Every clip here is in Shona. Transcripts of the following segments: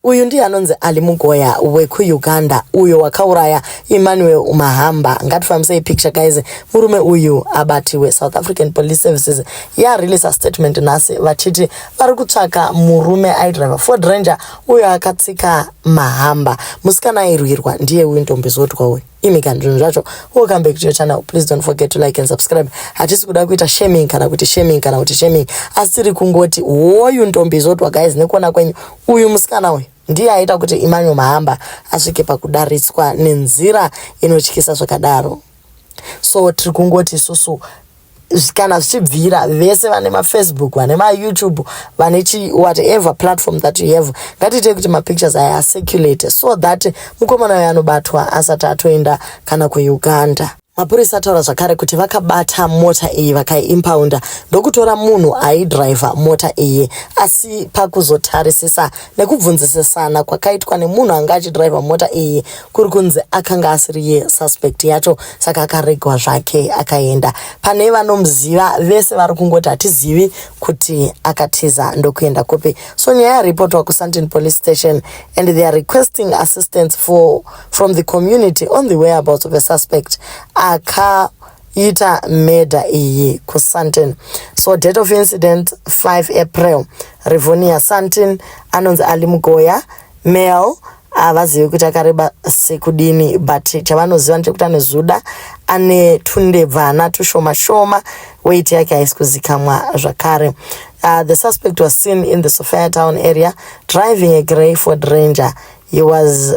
Uyu ndiye anonzi Ali Mugoya wekuUganda uyo wakauraya Emmanuel Mahamba. Ngatifambisei picture guys. Murume uyu abatiwe. South African Police Services ya release statement nhasi vachiti vari kutsvaka murume aidriver Ford Ranger uyo akatsika Mahamba. Musikana airwirwa ndiye uyu ndombi zodwa uyu. imi kana zvinhu zvacho welcome back to your channel please don't forget to like and subscribe hatisi kuda kuita shaming kana kuti shaming kana kuti shaming asi tiri kungoti woyu ntombi izotwa guys nekuona kwenyu uyu musikana uyu ndiye aita kuti imanyo mahamba asvike pakudaritswa nenzira inotyisa zvakadaro so tiri kungoti isusu kana zvichibvira vese vane mafacebook vane mayoutube vane chi whatever platform that you have ngatiitei kuti mapictures aya acirculate so that mukomana uyo anobatwa asati atoenda kana kuuganda mapurisa ataura zvakare kuti vakabata mota iyi vakaiimpaunda ndokutora munhu aidriver mota iyi asi pakuzotarisisa nekubvunzisisana kwakaitwa nemunhu anga achidhiraivha mota iyi kuri kunzi akanga asiri yesuspect yacho saka akaregwa zvake akaenda pane vanomuziva vese vari kungoti hatizivi kuti akatiza ndokuenda kupi so nyaya yaripotwa kusunton police station and they are requesting assistance for, from the community on the whereabouts of a suspect aka ita murder iyi kusunton so date of incident 5 april Rivonia Santin anonzi Ali Mugoya Mel havazivi kuti akareba sekudini but chavanoziva ndechekuti anozuda ane tundebvana tushoma shoma weit yake haisi kuzikamwa zvakare uh, the suspect was seen in the sofia town area driving a grey ford ranger he was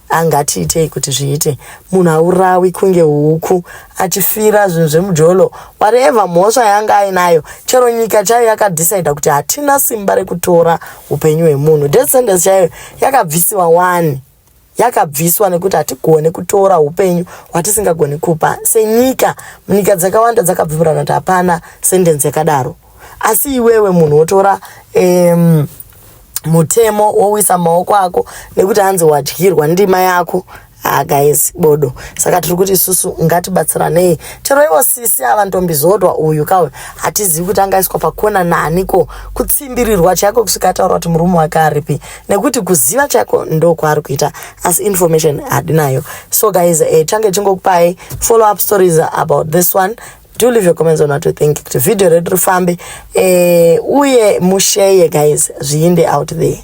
angatiitei kuti zviite munhu aurawi kunge huku achifira zvinhu zvemujolo wareva mhosva yanga ainayo chero nyika chaiyo yakadhisaida kuti hatina simba rekutora upenyu hwemunhu death sentence chaiyo yakabvisiwa wani yakabviswa nekuti hatigone kutora upenyu hwatisingagoni kupa senyika munyika dzakawanda dzakabvimurana kuti hapana sendenzi yakadaro asi iwewe munhu wotora um, mutemo wowisa maoko ako nekuti hanzi wadyirwa ndima yako Ah, guys bodo saka tiri kuti isusu ngatibatsiranei chero ivo sisi ava ndombizodwa uyu kauyu hatizivi kuti angaiswa pakona naniko kutsimbirirwa chaiko kusvika ataura kuti murume wake aripi nekuti kuziva chaiko ndokwaari kuita asi information hadinayo so guys eh, change chingokupai follow up stories about this one do leave your comments on what you think kuti video redu rifambe eh, uye musheye guys zviinde out there